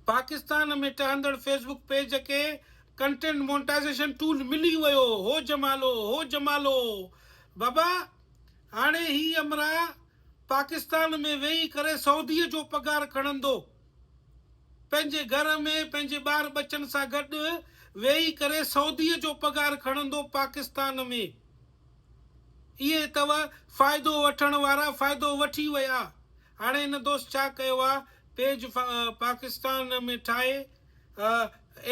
پاڪستان ۾ ٽهندڙ Facebook page کي content monetization tool ملي ويو هو جمالو هو جمالو بابا هاڻي هي امرا پاڪستان ۾ ويهي ڪري سعودي جو پگهار کڻندو پنهنجي گهر ۾ پنهنجي ٻار ٻچن سان گڏ ويهي ڪري سعودي جو پگهار کڻندو پاڪستان ۾ اهي اٿو فائدو وٺڻ وارا فائدو وٺي ويا هاڻي هن دوست ڇا ڪيو آ پيج پاڪستان ۾ ٺاهي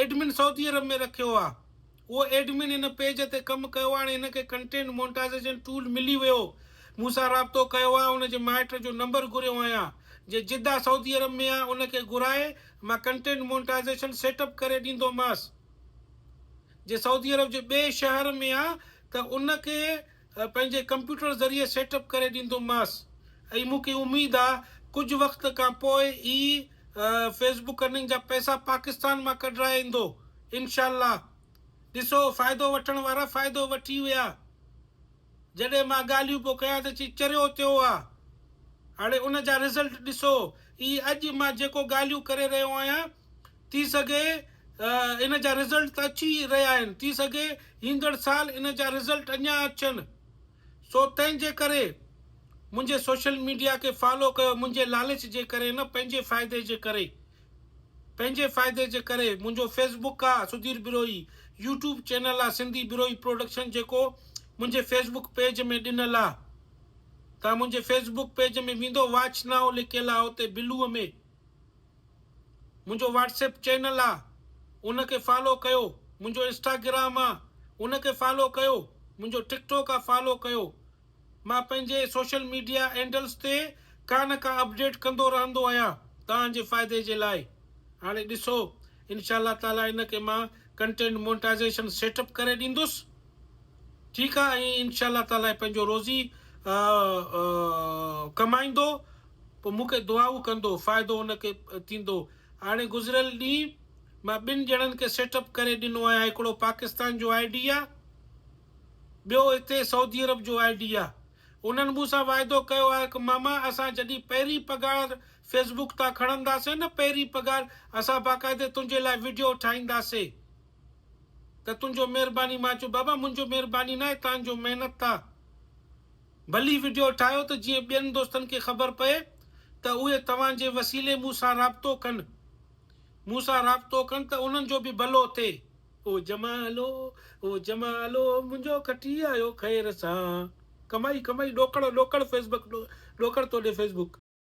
ايڊمن سعودي عرب ۾ رکيو آ اهو ايڊمن هن پيج تي ڪم ڪيو آ هاڻي هن کي ڪنٽينٽ مونٽازيشن ٽول ملي ويو مون سان رابطو ڪيو آ ان جي مائٽ جو نمبر گهريو آهيان جي جده سعودي عرب ۾ آ ان کي گهرائي مان ڪنٽينٽ مونٽازيشن سيٽ اپ ڪري ڏيندوماس جي سعودي عرب جي ٻئي شهر ۾ آ ته ان کي پنهنجي ڪمپيوٽر ذريعي سيٽ اپ ڪري ڏيندومانس ۽ مون کي اميد آ ڪجهه وقت کان پوء ئي فيس بڪ ارننگ جا پئسا پاڪستان مان ڪڍرائي ايندو انشاء الله ڏسو فائدو وٺڻ وارا فائدو وٺي ويا جڏهن مان ڳالهيون پيو ڪيان ته چي چريو تيو آ هاڻي ان جا رزلٽ ڏسو اي اڄ مان جيڪو ڳالهيون ڪري رهيو آهيان ٿي سگهي ان جا رزلٽ ته اچي رهيا آهن، ٿي سگهي ايندڙ سال ان جا رزلٽ اڃا اچن، سو تنهن جي ڪري منهنجي سوشل ميڊيا کي فالو ڪيو، منهنجي لالچ جي ڪري نه پنهنجي فائدي جي ڪري، پنهنجي فائدي جي ڪري، منهنجو فيس بڪ آ سڌير بروهي، يوٽيوب چينل آ سنڌي بروهي پروڊڪشن جيڪو منهنجي فيس بڪ پيج ۾ ڏنل آ، توهان منهنجي فيس بڪ پيج ۾ ويندو واچ نائو لکيل آ اتي بلوء ۾. منهنجو واٽسپ چينل آ ان کي فالو ڪيو منهنجو انسٽاگرام آ ان کي فالو ڪيو منهنجو ٽڪ ٽوڪ آ فالو ڪيو مان پنهنجي سوشل ميڊيا اينڊلس تي ڪا نه ڪا اپڊيٽ ڪندو رهندو آهيان توهان جي فائدي جي لاء هاڻي ڏسو انشاء الله تعالي ان کي مان ڪنٽينٽ مونٽائزيشن سيٽ اپ ڪري ڏيندس ٺيڪ آ ۽ انشاء الله تعالي پنهنجو روزي ڪمائيندو پوء مون کي دعائون ڪندو، فائدو ان کي ٿيندو. هاڻي گذريل ڏينهن مان ٻن ڄڻن کي سيٽ اپ ڪري ڏنو آهيان، هڪڙو پاڪستان جو آء ڊي آهي، ٻيو هتي سعودي عرب جو آء ڊي آهي. انهن مون سان واعدو ڪيو آهي ته ماما اسان جڏهن پهرين پگهار فيس بوڪ تان کڻنداسين نه پهرين پگهار اسان باقاعدي تنهنجي لاء وڊيو ٺاهينداسي ته تنهنجو مهرباني مان چيو بابا منهنجو مهرباني ناهي تهانجو محنت آهي. ڀلي وڊيو ٺاهيو ته جيئن ٻين دوستن کي خبر پئي ته اهي توهان جي وسيلي مون سان رابطو ڪن مون سان رابطو ڪن ته انهن جو به ڀلو ٿئي. او جمالو او جمالو منهنجو کٽي آيو خير سان. ڪمائي ڪمائي ڏوڪڙ ڏوڪڙ فيسبڪ ڏوڪڙ توڏي فيسبڪ.